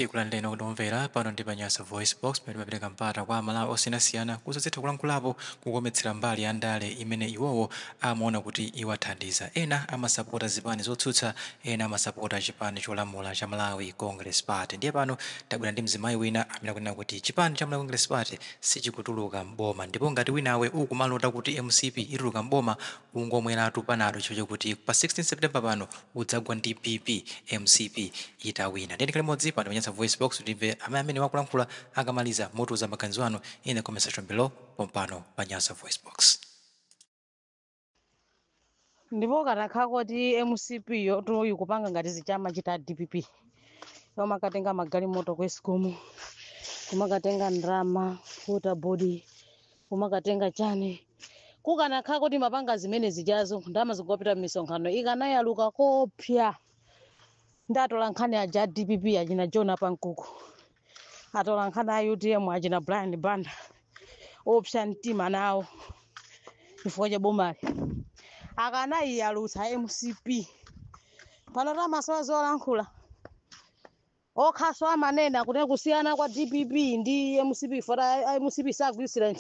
Tikulandireni okondwa omvera pano ndi pa Nyasa Voice Box pamene timapereka mpata kwa a Malawi osiyanasiyana kuti azitha kulankhulapo kukometsera mbali ya ndale imene iwowo amaona kuti iwathandiza. Ena amasapota zipani zotsutsa, ena amasapota chipani cholamula cha Malawi Congress Party. Ndiye pano tabwera ndi mzimayi wina amene akunena kuti chipani cha Malawi Congress Party sichikutuluka m'boma ndipo ngati winawe ukumalota kuti mcp ituluka m'boma, ungomweratu panado chifukwa chokuti pa 16 September pano udzagwa ndi BP mcp itawina. Ndiye tikhale limodzi pano pa Nyasa Voice Box kuti timve amene akulankhula akamaliza mutiuza maganizo anu in the comment section below pompano pa Nyasa Voice Box. ndipo kukanakhala kuti mcp yo ikupanga ngati zija amachita dpp yomakatenga magalimoto ku escom kumakatenga ndalama water board kumakatenga chani kukanakhala kuti imapanga zimene zijazo ndalama zikupita m'misonkhano ikanayaluka koopsya ndi atola nkhani aja a dpp achina john apankuku atola nkhani a utm achina brian banda opsa mtima nawo chifukwa cha bomali akanayiyalutsa mcp pano amasowa zolankhula okhanso amanena kuti kusiyana kwa dpp ndi mcp foti a mcp sagwiritsira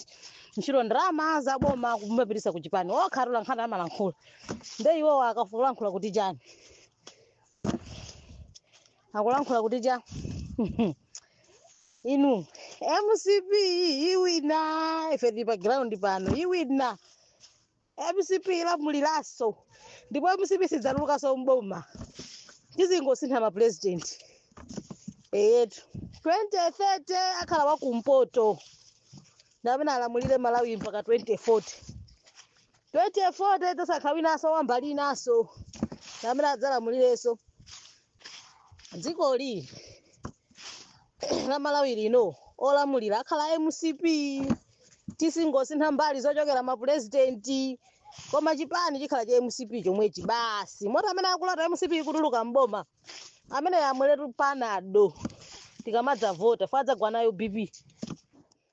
ntchito ndalama za boma kumapitisa ku chipani okha atola nkhani amalankhula nde iwowo akulankhula kuti chani akulankhula kuti cha inu mcp iwina ife tili pa ground pano iwina mcp ilamuliranso ndipo mcp sidzatulukanso mboma tizingosintha mapurezidenti eyetu 2030 akhala wakumpoto ndamene alamulire malawi mpaka 2040 2040 tidzasankha winanso wambali inanso ndamene adzalamulirenso dzikoli la malawi lino olamulira akhala mcp tizingosintha mbali zochokera mapurezidenti koma chipani chikhala cha mcp chomwechi basi moti amene akulota mcp ikutuluka mboma amene amweretu panado tikamadzavota foti adzagwa nayo bp